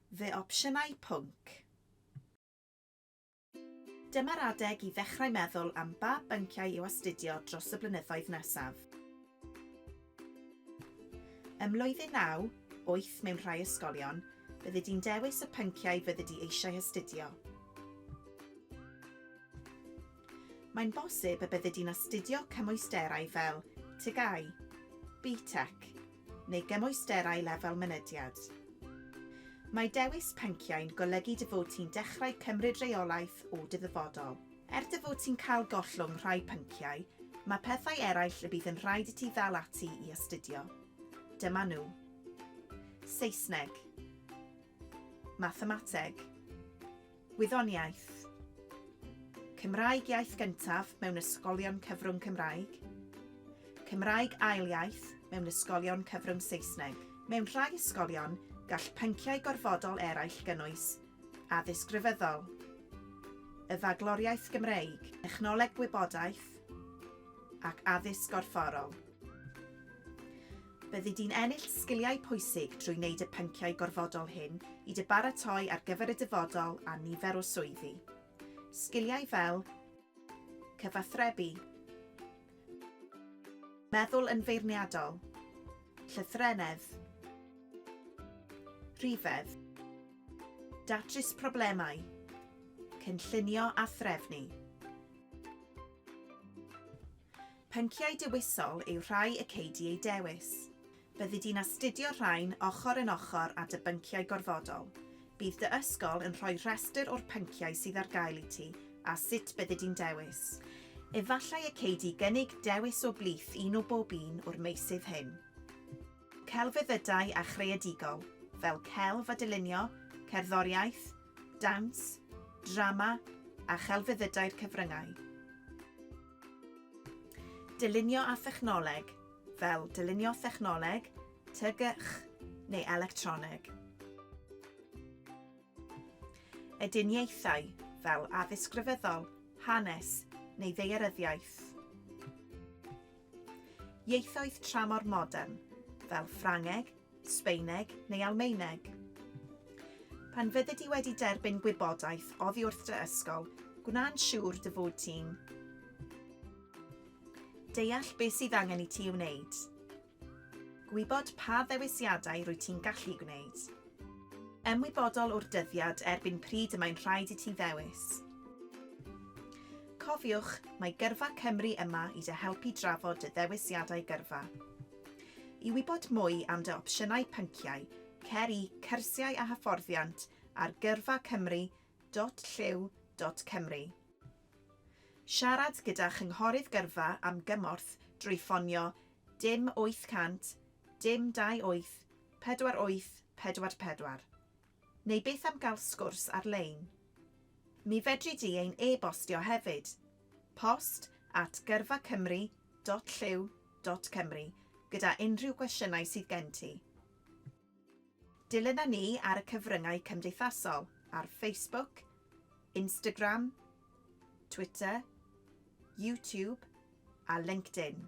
Fy opsiynau pwnc. Dyma'r adeg i ddechrau meddwl am ba bynciau i'w astudio dros y blynyddoedd nesaf. Ym mlwyddyn naw, wyth mewn rhai ysgolion, byddi di'n dewis y pynciau fyddi di eisiau astudio. Mae'n bosib y byddi di'n astudio cymwysterau fel TGAU, BTEC, neu gymwysterau lefel mynediad. Mae dewis pynciau'n golygu dy fod ti'n dechrau cymryd rheolaeth o dy ddyfodol. Er dy fod ti'n cael gollwng rhai pynciau, mae pethau eraill y bydd yn rhaid i ti ddal ati i astudio. Dyma nhw. Saesneg. Mathemateg. Gwyddoniaeth. Cymraeg iaith gyntaf mewn ysgolion cyfrwng Cymraeg. Cymraeg ail iaith mewn ysgolion cyfrwng Saesneg. Mewn rhai ysgolion, gall pynciau gorfodol eraill gynnwys, Addysg Rhyfeddol. Y Fagloriaeth Gymreig. Technoleg Gwybodaeth. Ac Addysg Gorfforol. Byddi di'n ennill sgiliau pwysig drwy wneud y pynciau gorfodol hyn i dy baratoi ar gyfer y dyfodol a nifer o swyddi. Sgiliau fel cyfathrebu, meddwl yn feirniadol, llythrennedd, rhifedd, datrys problemau, cynllunio a threfnu. Pynciau dewisol yw rhai y cei di eu dewis. Byddi di'n astudio'r rhain ochr yn ochr â dy bynciau gorfodol. Bydd dy ysgol yn rhoi rhestr o'r pynciau sydd ar gael i ti a sut byddi di'n dewis. Efallai y cei di gynnig dewis o blith un o bob un o'r meysydd hyn. Celfyddydau a chreadigol, fel celf a dylunio, cerddoriaeth, dawns, drama a chelfyddydau'r cyfryngau. Dylunio â thechnoleg, fel dylunio thechnoleg, TGCh neu electroneg. Ediniaethau, fel addysg grefyddol, hanes neu ddaearyddiaeth. Ieithoedd tramor modern, fel Ffrangeg, Sbaeneg neu Almaeneg. Pan fyddi di wedi derbyn gwybodaeth oddi wrth dy ysgol, gwna'n siŵr dy fod ti'n deall beth sydd angen i ti ei wneud. Gwybod pa ddewisiadau rwy ti'n gallu gwneud. Ymwybodol o'r dyddiad erbyn pryd y mae'n rhaid i ti ddewis. Cofiwch, mae Gyrfa Cymru yma i dy helpu drafod dy ddewisiadau gyrfa. I wybod mwy am dy opsiynau pynciau, cer i Cyrsiau a Hyfforddiant ar gyrfa cymru dot llyw dot cymru. Siarad gyda Chynghorydd Gyrfa am gymorth drwy ffonio dim 800 dim 28 48 44. Neu beth am gael sgwrs ar-lein? Mi fedri di ein e-bostio hefyd, post at gyrfacymru.llyw.cymru gyda unrhyw gwestiynau sydd gen ti. Dilyna ni ar y cyfryngau cymdeithasol ar Facebook, Instagram, Twitter, YouTube a LinkedIn.